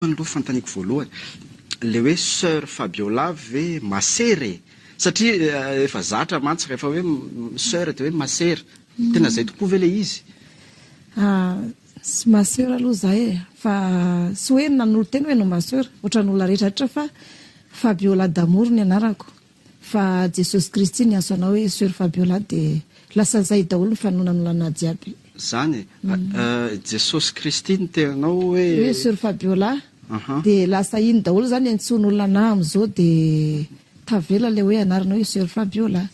Izany aloha fanontaniako voalohany, ilay hoe soeur Fabiola ve masera e? Satria efa zatra mantsy rehefa hoe soeur dia hoe masera, tena izay tokoa ve ilay izy? Tsy masera aloha izaho e, fa tsy hoe nanolo-tena hoe ianao masera, ohatran'ny olona rehetra rehetra fa Fabiola Damour ny anarako. Fa Jesosy Kristy ny asanao hoe Soeur Fabiola dia lasa zay daholo ny fanonanonanà jiaby. Zany e! Jesosy Kristy ny teninao hoe. Hoe Soeur Fabiola dia lasa iny daholo zany antsoin'olonanà amizao dia tavela le hoe anarana hoe Soeur Fabiola.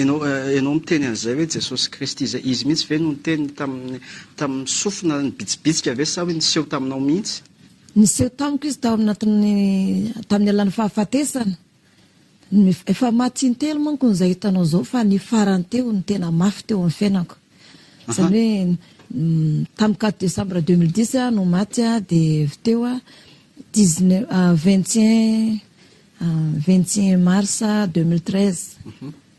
Enao enao miteny an'izay hoe Jesosy Kristy zay, izy mihitsy ve no niteny tamin'ny tamin'ny sofina nibitsibitsika ve sa hoe niseho taminao mihitsy? Niseho tamiko izy tao anatin'ny tamin'ny alalan'ny fahafatesana. Efa maty intelo manko izay hitanao izao fa ny farany teo no tena mafy teo amin'ny fiainako. Izany hoe tamin'ny quatre décembre deux mille dix no maty dia avy teo dix neuf vingt et un vingt et un mars deux mille treize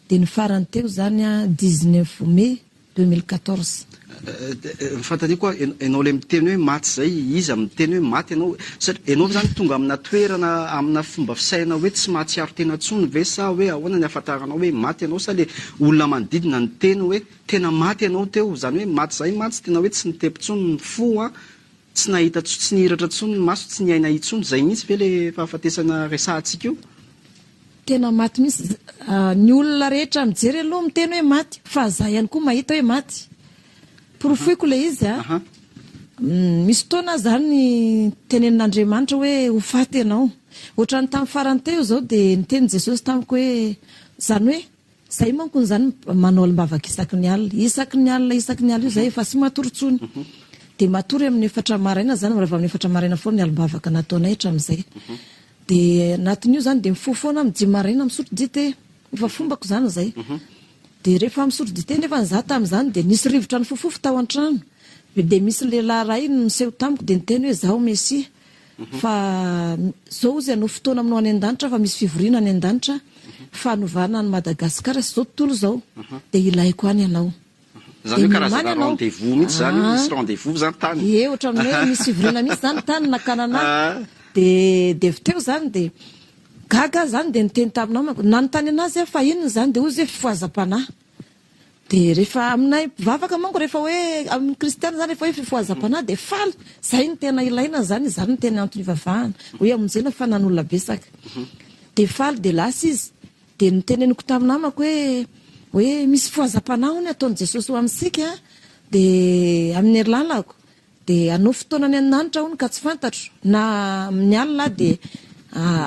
dia ny farany teo izany dix neuf mai Deux mille quatorze. Ny fanontaniako hoa ianao ilay miteny hoe maty izay, iza miteny hoe maty ianao? Satria ianao ve izany tonga amina toerana, amina fomba fisainana hoe tsy mahatsiaro tena intsony ve sa hoe ahoana ny ahafantaranao hoe maty ianao sa ilay olona manodidina niteny hoe tena maty ianao teo? Izany hoe maty izay mantsy tena hoe tsy nitepy intsony ny fo an, tsy nahita intsony, tsy nihiratra intsony ny maso, tsy niaina intsony, izay mihitsy ve ilay fahafatesana resahantsika io? Tena maty mihintsy ny olona rehetra mijery aloha miteny hoe maty fa za ihany koa mahita hoe maty porofoiko le izy a misy fotoana zany tenenin'Andriamanitra hoe ho faty ianao ohatran'ny tamin'ny farany teo zao dia niteny Jesosy tamiko hoe zany hoe Zay manko izany manao alimbavaka isaky ny alina, isaky ny alina, isaky ny alina io zay efa sy matory tsony. Dia matory amin'ny efatra maraina zany, raha vao amin'ny efatra maraina foana ny alimbavaka nataonay hatramin'izay. Dia anatin'io zany dia mifoha foana amin'ny dimy maraina misotro dite, efa fombako zany zay. Dia rehefa misotro dite nefa za tamin'izany dia nisy rivotra nifofofo tao an-trano, dia misy lehilahy iray niseho tamiko dia niteny hoe, Izaho Mesia. Fa zao ozy anao fotoana aminao any andanitra fa misy fivoriana any andanitra fanovana any Madagascar sy zao tontolo zao de ilaiko any anao. Zany hoe karazana rendez-vous mihitsy zany io, misy rendez-vous zany tany. Ie otrany hoe misy fivoriana mihitsy zany tany nakana anah de de avy teo zany de gaga aho zany de niteny taminao manko nanontany anazy aho fa inona zany de ozy hoe fifohazam-panahy. Dia rehefa aminay mpivavaka manko rehefa hoe amin'ny kristiana izany rehefa hoe fifohazam-panahy dia faly. Izay no tena ilaina izany, izany no tena antony ivavahana. Hoe hamonjena fa nan'olona betsaka. Mhm. Dia faly dia lasa izy. Dia noteneniko tamin'ny namako hoe hoe misy fifohazam-panahy hono ataon'i Jesosy ho amintsika dia amin'ny hery lalako. Dia hanao fotoana any an-danitra hono ka tsy fantatro, na amin'ny alina aho dia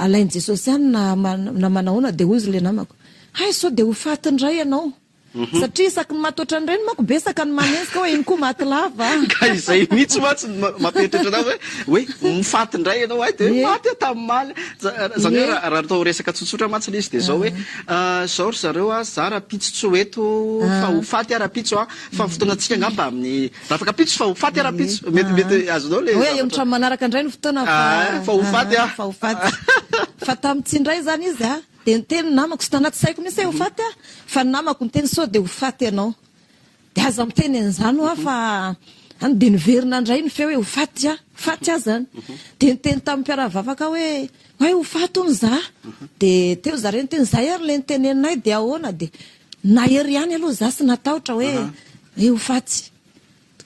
alain'i Jesosy any na na manahoana dia hoy izy ilay namako, hay sao dia ho faty indray ianao, satria isaky ny maty ohatran'ireny manko betsaka ny manenjika hoe iny koa maty lava an! Ka izay mihitsy mantsy no mampieritreritra anao hoe hoe ho faty indray ianao, hay dia hoe maty aho tamin'omaly an! Izany hoe raha raha atao resaka tsotsotra mantsy ilay izy dia izao hoe, izao ry zareo an, za rahampitso tsy ho eto fa ho faty aho rahampitso an! fa ny fotoanantsika angamba amin'ny Rafaka pitso fa ho faty ara pitso. Mety mety azonao le. Hoe amin'ny trano manaraka indray ny fotoana fa ah, fa ho faty ah. Fa ho faty. Fa tamin'ny tsy indray izany izy ah. Dia niteny ny namako sy tanaty saiko mihitsy hoe ho faty ah. Fa ny namako niteny sao dia ho faty ianao. Dia aza miteny an'izany hoa fa any dia niverina indray ny feo hoe ho faty ah. Faty ah zany. Dia niteny tamin'ny mpiara-mivavaka hoe hoe ho faty hono za. Dia teo zareo niteny zay ary le niteneninay dia ahoana dia Nahery ihany aloha za sy natahotra hoe hoe ho faty.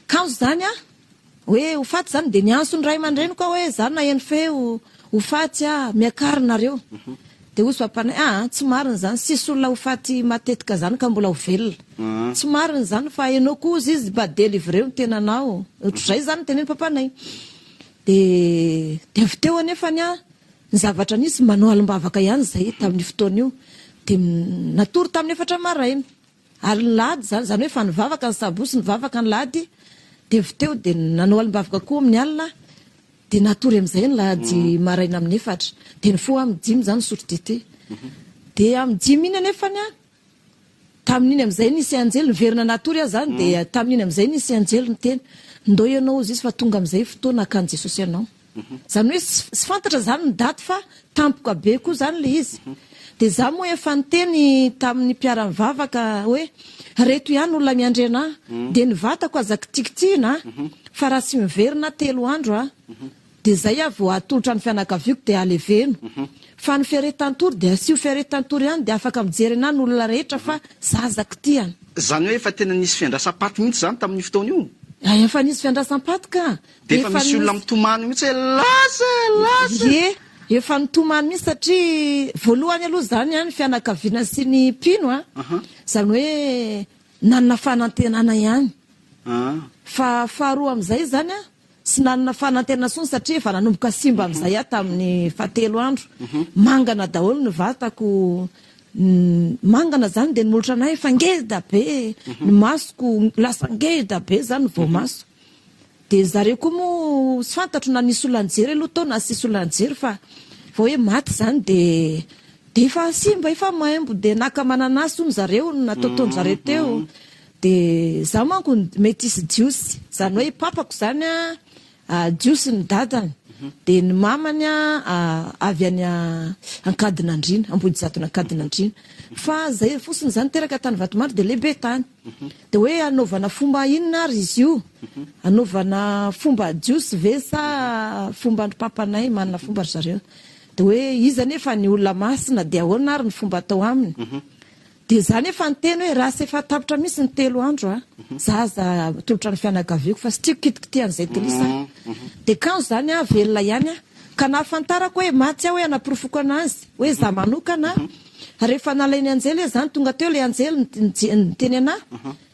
Kanjo zany a, hoe ho faty zany de niantso ny ray aman-dreniko aho hoe za naheno feo ho faty a, miakary nareo. De hoy Soapanay, aa tsy marina zany, sisy olona ho faty matetika zany ka mbola ho velona. Tsy marina zany fa enao ko hozy izy mba delivreo ny tenanao. Otrzay zany ny tenenin'i Papanay. De de avy teo anefany a, Ny zavatra nisy, manao alim-bavaka ihany izahay tamin'io fotoana io, dia natory tamin'ny efatra maraina, ary ny lahady izany, izany hoe efa nivavaka ny sabosy, nivavaka ny lahady, dia avy teo dia nanao alim-bavaka koa amin'ny alina, dia natory amin'izay ny lahady maraina amin'ny efatra, dia nifoha amin'ny dimy izany nisotro dite, dia amin'ny dimy iny anefany Tamin'iny amin'izay nisy anjely niverina natory azy zany dia mhm. tamin'iny amin'izay nisy anjely niteny ndao ianao hozy izy fa tonga amin'izay fotoana hakan'i Jesosy ianao. Mhm. Zany hoe sy fantatra zany ny daty fa tampoka be koa zany le izy. Mhm. Dia za moa efa niteny tamin'ny mpiara-mivavaka hoe reto ihany olona miandry anà dia ny vatako aza kitikitihina fa raha tsy miverina telo andro a Dia zay aho vao atolotra ny fianakaviako dia aleveno. Fa ny ferre tantory dia asio ferre tantory ihany dia afaka mijery anah ny olona rehetra fa zah zakitian. Zany hoe efa tena nisy fiandrasam paty mihitsy zany tamin'io fotoana io? Hay efa nisy fiandrasam paty ka. Dia efa misy olona mitomany mihitsy hoe lasa eh lasa eh. Ie efa nitomany mihitsy satria voalohany aloha zany an ny fianakaviana sy ny mpino an zany hoe nanana fanantenana ihany. Fa faharoa amin'izay zany an Tsy nanana fanantenana tsony satria efa nanomboka simba amin'izay aho tamin'ny fahatelo andro. Mangana daholo ny vatako, mangana izany dia ny molotra anay efa ngeda be, ny masoko lasa ngeda be izany ny voamaso. Dia zareo koa moa tsy fantatro na nisy olona nijery aloha tao na tsy nisy olona nijery fa vao hoe maty izany dia dia efa simba, efa maimbo. Dia naka mananasy hono zareo, natotoan-dry zareo teo. Dia za manko metisy jiosy, zany hoe papako zany a jiosy ny dadany dia ny mamany a avy any Ankadinandriana, Ambohijatona Ankadinandriana, fa zay fosiny zany teraka tany Vatomandry dia lehibe tany. Dia hoe anaovana fomba inona ary izy io? Anaovana fomba jiosy ve sa fomba ndry papanay? Manana fomba ry zareo. Dia hoe izy anefa ny olona masina dia ahoana ary ny fomba atao aminy? Dia za nefa niteny hoe raha tsy efa tapitra mihitsy ny telo andro a, za aza atolotra ny fianakaviako fa tsy tiako kitikitihan'izay Delice a. Dia kanjo zany a, velona ihany a. Ka nahafantarako hoe maty aho hoe hanaporofoko anazy hoe za manokana a. Ary rehefa nalain'i Anjely izy zany, tonga teo ilay Anjely niteny anahy.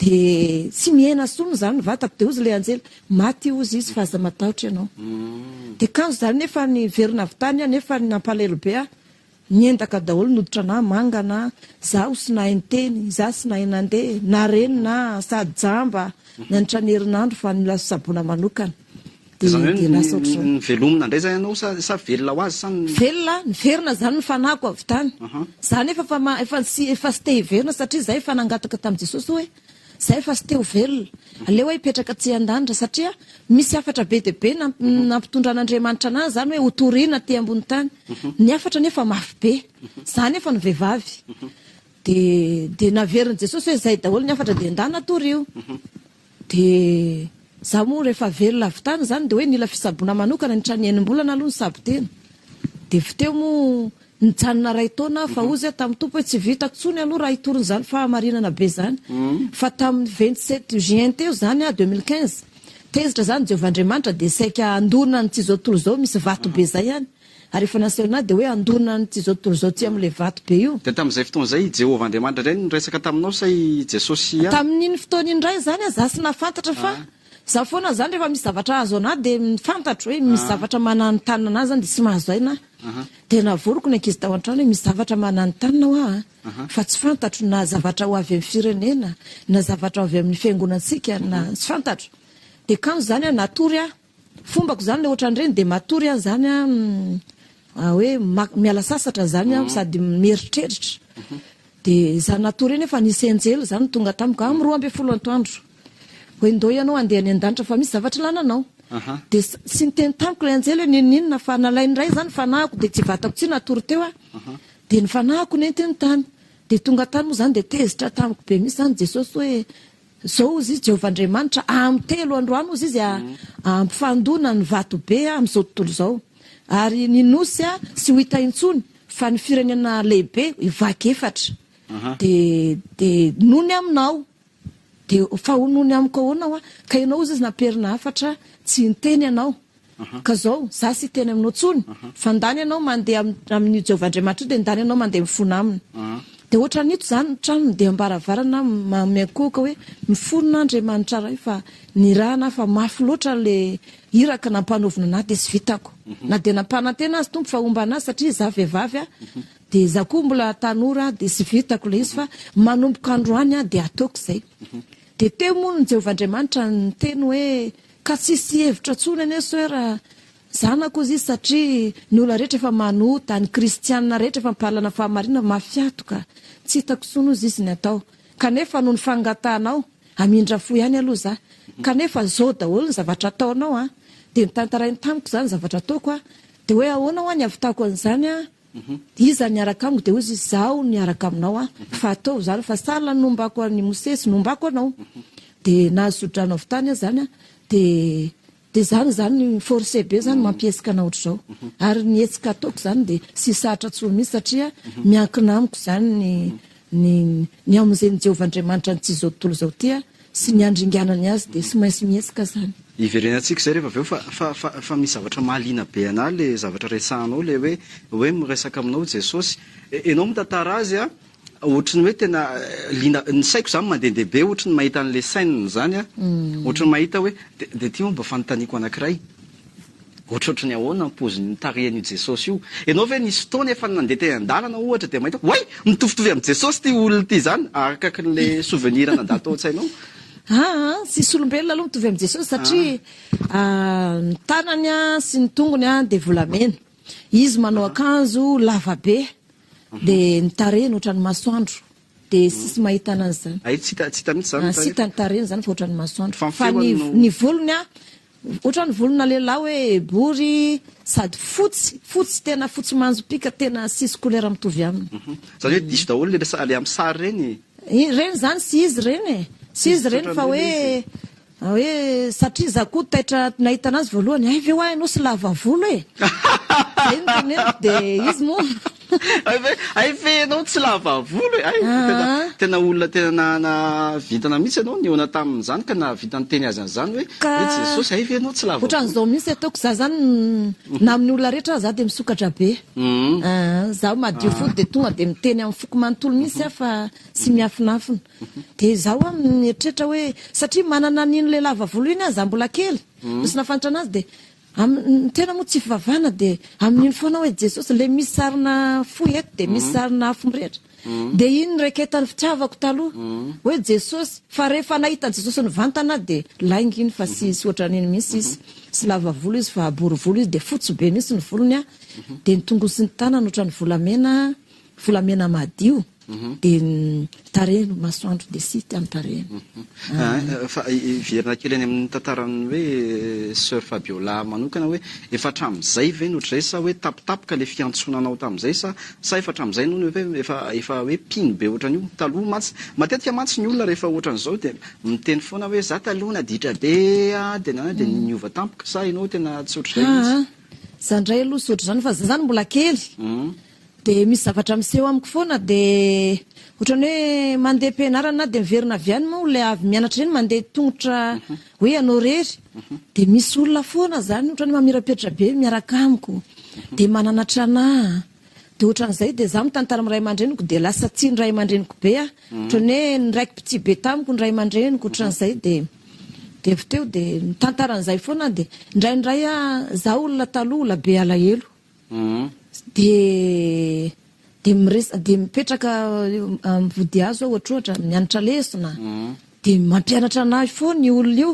Dia tsy mihena intsony izany ny vatako. Dia hozy ilay anjely, Maty hozy izy fa aza matahotra ianao. Dia kanjo izany nefa niverina avy tany aho nefa nampalahelo be aho. Niendaka daholo ny hoditranahy, mangana izaho tsy nahay niteny, izaho tsy nahay nandeha, na reny na sady jamba nandritra ny herinandro fa ny lasa saboana manokana. Izany hoe ny velomina indray izay ianao sa sa velona ho azy sa ny. Velona, niverina izany ny fanahiko avy tany. Izaho anefa efa efa tsy efa tsy te hiverina satria izaho efa nangataka tamin'i Jesosy hoe izaho efa tsy te ho velona. Aleo aho hipetraka aty an-danitra satria misy hafatra be dia be nampitondran'Andriamanitra anahy izany hoe hotorina aty ambony tany. Ny hafatra anefa mafy be. Izaho anefa no vehivavy. Dia dia naverin'i Jesosy hoe izay daholo ny hafatra dia endana torio. Dia za moa rehefa velona avy tany zany dia hoe nila fisaboana manokana ny trano enim-bolana aloha nisabo tena dia vy teo moa nijanona iray taona aho fa ozy aho tamin'ny Tompo hoe tsy vita tsony aloha raha hitory n'izany fahamarinana be zany fa tamin'ny vingt sept juin teo zany aho deux mille quinze tezitra zany Jehovah Andriamanitra dia saika handona ny tsy izao tontolo izao misy vato be zay any Ary efa nasehoana ahy dia hoe handorona an'ity izao tontolo izao ity amin'ilay vato be io. Dia tamin'izay fotoana izay i Jehovah Andriamanitra indray no niresaka taminao sa i Jesosy ihany? Tamin'iny fotoana iny indray izany aza tsy nahafantatra fa izaho foana izany rehefa misy zavatra hahazoana ahy dia fantatro hoe misy zavatra mananontanona ahy izany dia tsy mahazo aina aho. Dia navoriko ny ankizy tao an-trano hoe misy zavatra mananontanona ho ahy fa tsy fantatro na zavatra ho avy amin'ny firenena na zavatra ho avy amin'ny fiangonantsika na tsy fantatro. Dia kanjo izany aho natory aho. Fombako zany le otran'ireny de matory aho zany ah hoe miala sasatra zany aho sady mieritreritra de za natory eny efa nisy enjely zany tonga tamiko amin'ny roa ambin'ny folo antoandro hoe ndao ianao handeha any an-danitra fa misy zavatra ilana anao de tsy niteny tamiko le enjely hoe ninoninona fa nalainy iray zany fanahiko de tsy vatako tsy natory teo aho de ny fanahiko nentiny tany de tonga tany moa zany de tezitra tamiko be misy zany Jesosy hoe Zao ozy izy Jehovah Andriamanitra, amy telo androany ozy izy ampifandona ny vato be amy zao tontolo zao, ary ny nosy a tsy ho hita intsony, fa ny firenena lehibe hivaky efatra. De, de nony aminao, de fa ho nony amiko ahoana hoa? Ka ianao ozy izy nampiherina hafatra, tsy niteny ianao, Ka zao, za tsy hiteny aminao tsony, fa ndany ianao mandeha amin'io Jehovah Andriamanitra io, dia ndany ianao mandeha mifona aminy. Dia ohatran'ny ito izany ny tranony, dia am-baravarana manome ankohoka hoe, Mifona, Andriamanitra Ray, fa nirahana aho, fa mafy loatra ilay iraka nampanaovina an'ahy, dia tsy vitako. Na dia nampanantena azy Tompo fa homba an'azy, satria izaho vehivavy aho, dia izaho koa mbola tanora aho, dia tsy vitako ilay izy, fa manomboka androany aho dia ataoko izay. Dia teo moa ny Jehovah Andriamanitra niteny hoe, Ka tsisy hevitra tsony anie soeur a! Zanako ozy izy satria ny ola rehetra efa manota, ny kristianina rehetra efa mpahalana fahamarinana mafiatoka, tsy hitako tsony ozy izy ny atao, kanefa noho ny fangatahanao hamindra fo ihany aloha za, kanefa zao daholo ny zavatra ataonao a! de notantarainy tamiko zany zavatra ataoko a! de hoe ahoana hoa ny havitako an'izany a! Iza niaraka amiko dia hoy izy, Izaho niaraka aminao aho, fa ataovy izany fa sahala ny nombako an'i Mosesy, nombako anao. Dia nahazo tsodrano avy tany aho izany, dia dia izany izany, forcé be izany, mampihetsika anao ohatr'izao. Ary ny hetsika ataoko izany dia tsy sarotra intsony mihitsy satria miankina amiko izany ny ny ny hamonjen'i Jehovah Andriamanitra an'ity izao tontolo izao ity. sy ny andringanany azy dia tsy maintsy mihetsika zany. Iverenantsika izay rehefa avy eo fa fa fa fa misy zavatra mahaliana be anah le zavatra resahanao le hoe hoe miresaka aminao Jesosy e enao mitantara azy a ohatry ny hoe tena liana ny saiko zany mandendeha be ohatry ny mahita an'le scène zany a ohatry ny mahita hoe de de ty moa mba fanontaniako anakiray Ohatrohatry ny ahoana ny paozin'ny tarehin'io Jesosy io? Ianao ve nisy fotoana efa nandeha teny an-dalana ohatra dia mahita hoe oay! mitovitovy amin'i Jesosy ity olona ity izany, arakakin'ilay souvenir nandalo tao an-tsainao? Aa, tsisy olombelona aloha mitovy amin'i Jesosy satria ny tanany sy ny tongony dia volamena, izy manao akanjo lavabe dia ny tarehiny ohatran'ny masoandro. Dia tsisy mahita ananjy zany. Hay tsy hita, tsy hita mihitsy zany ny tarehiny. Tsy hita ny tarehiny zany fa ohatran'ny masoandro. Fa ny volony an, ohatran'ny volona lehilahy hoe bory sady fotsy, fotsy tena fotsy manjopiaka tena tsisy couleur mitovy aminy. Zany hoe diso daholo le le amin'ny sary reny? Ireny zany tsy izy ireny e, tsy izy ireny fa hoe Hoe satria izaho koa taitra nahita anazy voalohany, hay ve hoa ianao sy lava volo e! Izay no teneniko dia izy moa. Hay ve ianao tsy lava volo e! Hay, tena olona tena nanana vintana mihitsy ianao nihaona tamin'izany ka nahavita niteny azy an'izany hoe, hoe Jesosy, hay ve ianao tsy lava volo? Ohatran'izao mihitsy ataoko, izaho izany na amin'ny olona rehetra aza izaho dia misokatra be. Izaho madio fo dia tonga dia miteny amin'ny foko manontolo mihitsy aho fa tsy miafinafina. Dia izaho an mieritreritra hoe satria manana an iny ilay lava volo iny an za mbola kely no tsy nafanitra anazy dia amin'ny ny tena moa tsy fivavahana dia amin iny foana aho hoe Jesosy ilay misy sarina fo eto dia misy sarina afo mirehitra dia iny no raiketan'ny fitiavako taloha hoe Jesosy fa rehefa nahita an'i Jesosy nivantana aho dia lainga iny fa tsy tsy ohatra an'iny mihitsy izy tsy lava volo izy fa bory volo izy dia fotsy be mihitsy ny volony an dia ny tongolo sy ny tanany ohatra ny volamena Volamena madio dia ny tarehiny, ny masoandro dia site amin'ny tarehiny. Fa hiverina kely any amin'ny tantaran'ny hoe Soeur Fabiola manokana hoe efa hatramin'izay ve no ohatr'izay sa hoe tampotampoka ilay fiantsonanao tamin'izay sa sa efa hatramin'izay no hoe efa efa hoe mpino be ohatran'io? Taloha mantsy, matetika mantsy ny olona rehefa ohatran'izao dia miteny foana hoe za taloha naditra be a, dia na dia niova tampoka sa ianao tena tsy ohatr'izay mihitsy? Aah, za indray aloha tsy ohatr'izany fa za zany mbola kely. Dia misy zavatra miseho amiko foana dia ohatran'ny hoe mandeha am-pianarana dia miverina avy any moa ilay avy mianatra iny mandeha tongotra mhm. hoe ianao rery mhm. dia misy olona foana izany ohatran'ny mamirapiratra be miaraka amiko mhm. dia mananatra anà dia ohatran'izay dia za mitantara amin'ny ray aman-dreniko dia lasa tsy ny ray aman-dreniko be ah ohatran'ny hoe niraiky pitsy be tamiko ny ray aman-dreniko ohatran'izay dia dia avy teo dia mitantara an'izay foana dia indraindray ah za olona taloha olona be alahelo dia dia mipetraka amin'ny vodihazo aho ohatrohatra mianatra lesona dia mampianatra anahy foana io olona io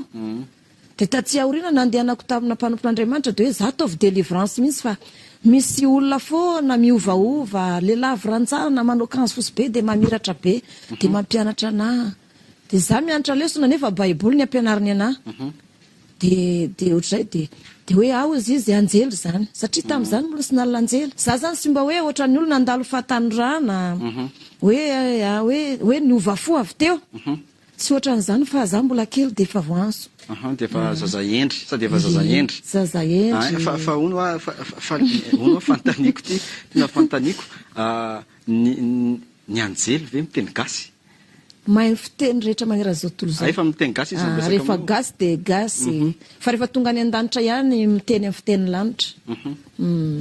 dia tatsy aoriana nandehanako tamina mpanompon'Andriamanitra dia hoe za ataovy délivrance mihitsy fa misy olona foana miovaova lehilahy viranjana manao kanjo fotsy be dia mamiratra be dia mampianatra anahy Dia za mianatra lesona nefa baiboly ny ampianariny anah. De de otrzay de de hoe ah ozy izy anjely zany satria tamzany mbola tsy nalina anjely za zany tsy mba hoe otrany olona andalo fahatanorana hoe ah hoe hoe niova fo avy teo tsy otranzany fa za mbola kely de efa voanzo Aha, dia efa zaza hendry, sa dia efa zaza hendry? Zaza hendry. Ah, fa fa hono ah, fa fa fa hono ah, fantaniko ty, tena fantaniko ah, ny ny anjely ve miteny gasy? Mahay fiteny rehetra manerana izao tontolo izao. Rehefa miteny gasy izy miresaka aminao. Rehefa gasy dia gasy. Fa rehefa tonga any an-danitra ihany miteny amin'ny fitenin'ny lanitra.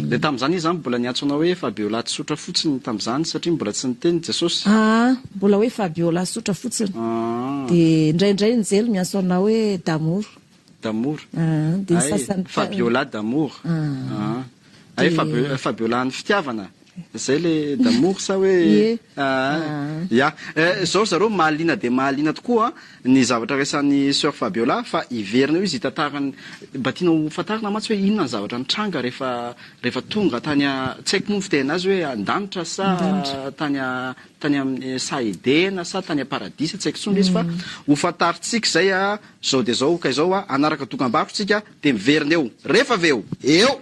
Dia tamin'izany izy izany mbola niantsoanao hoe Fabiola tsotra fotsiny tamin'izany satria mbola tsy niteny Jesosy? Aa, mbola hoe Fabiola tsotra fotsiny. Dia indraindray Njely miantso anao hoe Damour. D'amour Hay Fabiola d'amour Hay Fabiola ny fitiavana Zay le d'amour sa hoe ya Zao ry zareo mahaliana dia mahaliana tokoa ny zavatra resahan'i Soeur Fabiola fa hiverina eo izy hitantara ny Mba tiana ho fantarina mantsy hoe inona ny zavatra nitranga rehefa rehefa tonga tany a tsy haiko moa ny fiteny anazy hoe an-danitra sa tany a tany amin'ny saha Edena sa tany am-paradisa tsy haiko intsony le izy fa ho fantarintsika izay a Zao dia zao ka izao a, hanaraka dokam-barotra tsika dia miverina eo. Rehefa avy eo. Eo!